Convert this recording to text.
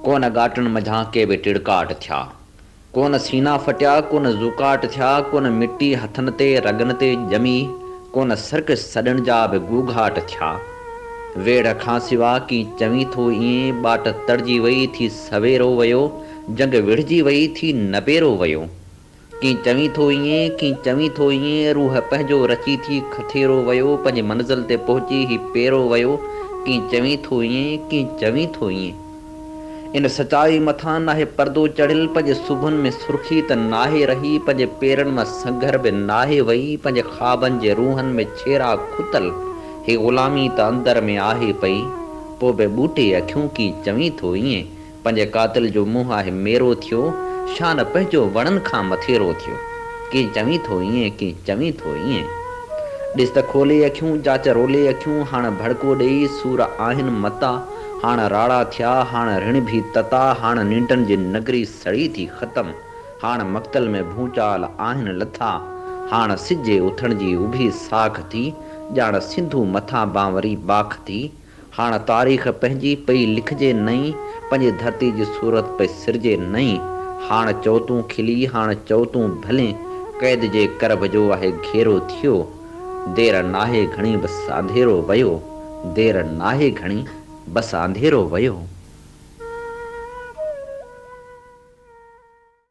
ڪو نه ڳاٽن منجهان ڪي به ٽڙڪاٽ ٿيا، ڪو نه سينا ڦٽيا، ڪو نه زوڪاٽ ٿيا، ڪو نه مٽي هٿن تي رڳن تي ڄمي، ڪو نه سرڪش سڏن جا به گوگهاٽ ٿيا. ويڙهه کان سوا ڪي چوين ٿو ايئن، ٻاٽ تڙجي وئي ٿي سويرو ويو، جنگ وڙهجي وئي ٿي نبيرو ويو. ڪين چوين ٿو ايئن، ڪين چوين ٿو ايئن، روح پنهنجو رچي ٿي کٿيرو ويو، پنهنجي منزل تي پهچي هي پيرو ويو، ڪين چوين ٿو ايئن، ڪين چوين ٿو ايئن. ان سچائي مٿان ناهي پردو چڙهيل، پنهنجي سونهن ۾ سرخي ته ناهي رهي، پنهنجي پيرن مان سنگهر به ناهي وئي، پنهنجي خوابن جي روهن ۾ ڇيرا کتل، هي غلامي ته اندر ۾ آهي پئي، پوء به ٻوٽي اکيون ڪين چوين ٿو ايئن، پنهنجي قاتل جو منهن آهي ميرو ٿيو، شان پنهنجو وڻن کان مٿيرو ٿيو. ڪي چوين ٿو ائين، ڪي چوين ٿو ائين. ڏس ته کولي اکيون، جاچ رولي اکيون، هاڻ ڀڙڪو ڏيئي، سور آهن متا. هاڻ راڙا ٿيا، هاڻ رڻ ڀي تتا، هاڻ ننڊن جي نگري سڙي ٿي ختم. هاڻ مقتل ۾ ڀونچال آهن لٿا، هاڻ سج جي اٿڻ جي اڀي ساک ٿي، ڄاڻ سنڌو مٿان بانوري باک ٿي. هاڻ تاريخ پنهنجي پئي لکجي نئين، پنهنجي ڌرتي جي صورت پئي سرجي نئين، هاڻ چئو تون کلي، هاڻ چئو تون ڀلين، قيد جي ڪرڀ جو آهي گهيرو ٿيو، دير ناهي گهڻي بس آنڌيرو ويو، دير ناهي گهڻي بس آنڌيرو ويو.